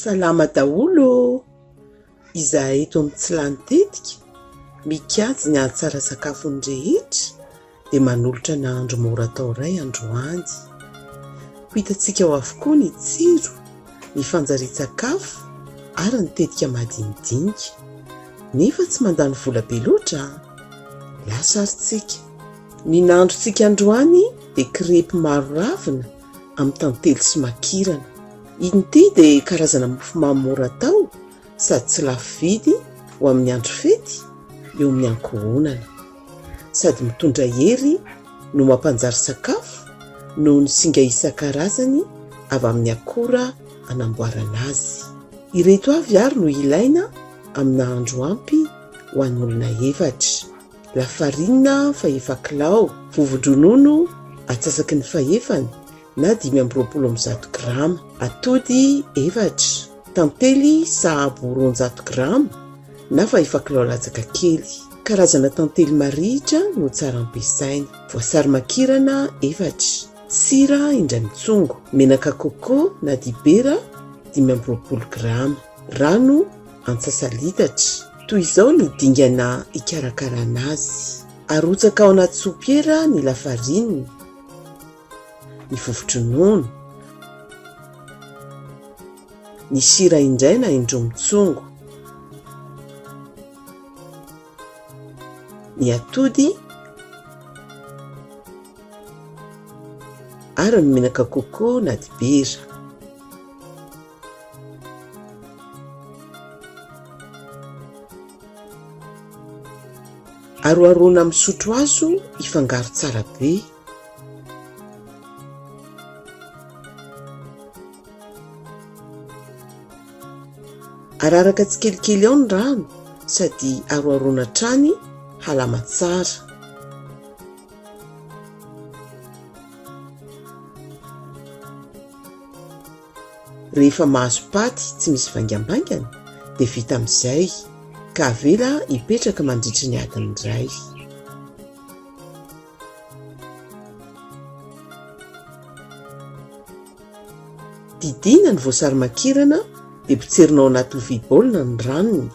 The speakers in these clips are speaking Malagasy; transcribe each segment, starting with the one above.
Salama daholo ô! Izahay eto amin'ny tsy lany tetika, mikajy ny hahatsara sakafon'ny rehetra, dia manolotra nahandro mora atao iray androany. Ho hitantsika ao avokoa ny tsiro. ny fanjarian-tsakafo ary ny tetika madinidinika. Nefa tsy mandany vola be loatra an! Lasa ary tsika. Ny nahandrontsika androany dia crepes maro ravina amin'ny tantely sy makirana. Ity dia karazana mofomamy mora atao sady tsy lafo vidy ho amin'ny andro fety eo amin'ny ankohonana. sady mitondra hery no mampanjary sakafo noho ny singa isan-karazany avy amin'ny akora anamboarana azy. Ireto avy ary no ilaina amin'ny nahandro ampy ho an'olona efatra, lafarinina fahefa kilao, vovo-dronono atsasaky ny fahefany, na dimy amby roapolo amby zato grama. Atody efatra, tantely sahabo roanjato grama na fahefa kilao latsaka kely. Karazana tantely marihitra no tsara ampiasaina. Voasary makirana efatra. Sira indray mitsongo. Menaka coco na dibera dimy amby roapolo grama. Rano antsasa-litatra. Toy izao ny dingana hikarakarana azy. Arotsaka ao anaty sopiera ny lafarinina. ny vovotry ny nono, ny sira indray na indroa mitsongo, ny atody ary ny menaka coco na dibera. Aroharoana amin'ny sotro hazo hifangaro tsara be. Araraka tsikelikely ao ny rano sady aroharoana hatrany halama tsara. Rehefa mahazo paty tsy misy vaingambaingana dia vita amin'izay ka avela hipetraka mandritra ny adiny iray. Didiana ny voasary makirana dia potserina ao anaty lovia baolina ny ranony.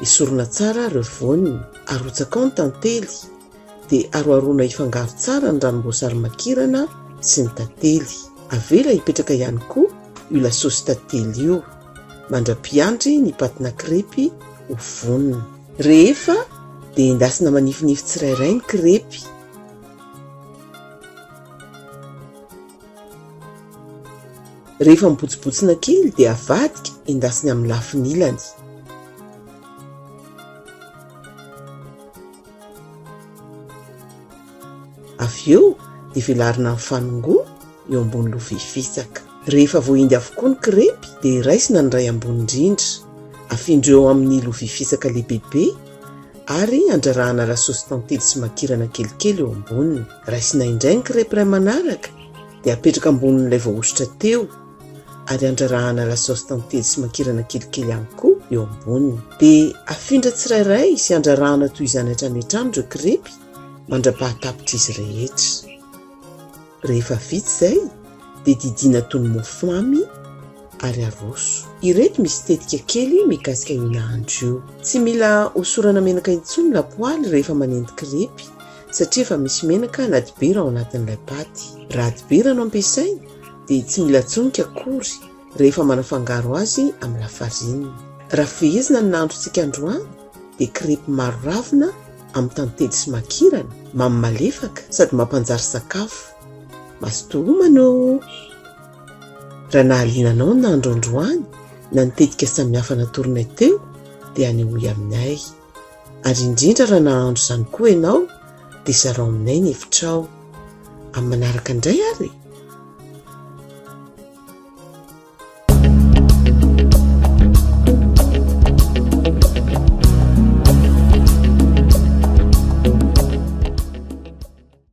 Esorina tsara ary ireo voany. Arotsaka ao ny tantely. Dia aroharoana hifangaro tsara ny ranom-boasary makirana sy ny tantely. Avela hipetraka ihany koa io lasôsy tantely io. Mandra-piandry ny patina krepy ho vonona. Rehefa dia endasina manifinify tsirairay ny krepy. Rehefa mibotsibotsina kely dia avadika endasina amin'ny lafiny ilany. Avy eo dia velarina amin'ny fanongoana eo ambony lovia fisaka. Rehefa voahindy avokoa ny krepy dia raisina ny iray ambony indrindra. Afindro eo amin'ny lovia fisaka lehibebe ary andrarahana lasosy tantely sy makirana kelikely eo amboniny. Raisina indray ny krepy iray manaraka dia apetraka ambonin'ilay voahosotra teo. ary andrarahana la sauce tantely sy mankirana kelikely ihany koa eo amboniny. Dia afindra tsirairay sy andrarahana toy izany hatrany hatrany ireo krepy mandra-pahatapitra izy rehetra. Rehefa vita izay dia didiana toy ny mofo mamy ary aroso. Ireto misy tetika kely mikasika io nahandro io. Tsy mila hosorana menaka intsony ny lapoaly rehefa manendy krepy satria efa misy menaka na dibera ao anatin'ilay paty. Raha dibera no ampiasaina dia tsy mila tsonika akory rehefa manafangaro azy amin'ny lafarinina. Raha fehezina ny nahandrontsika androany dia crêpe maro ravina amin'ny tantely sy makirana, mamy malefaka sady mampanjary sakafo. Mazotoa homana oo! Raha nahaliana anao ny nahandro androany na ny tetika samihafa natoronay teo dia anehoy aminay. Ary indrindra raha nahandro izany koa ianao dia zarao aminay ny hevitrao. Amin'ny manaraka indray ary e!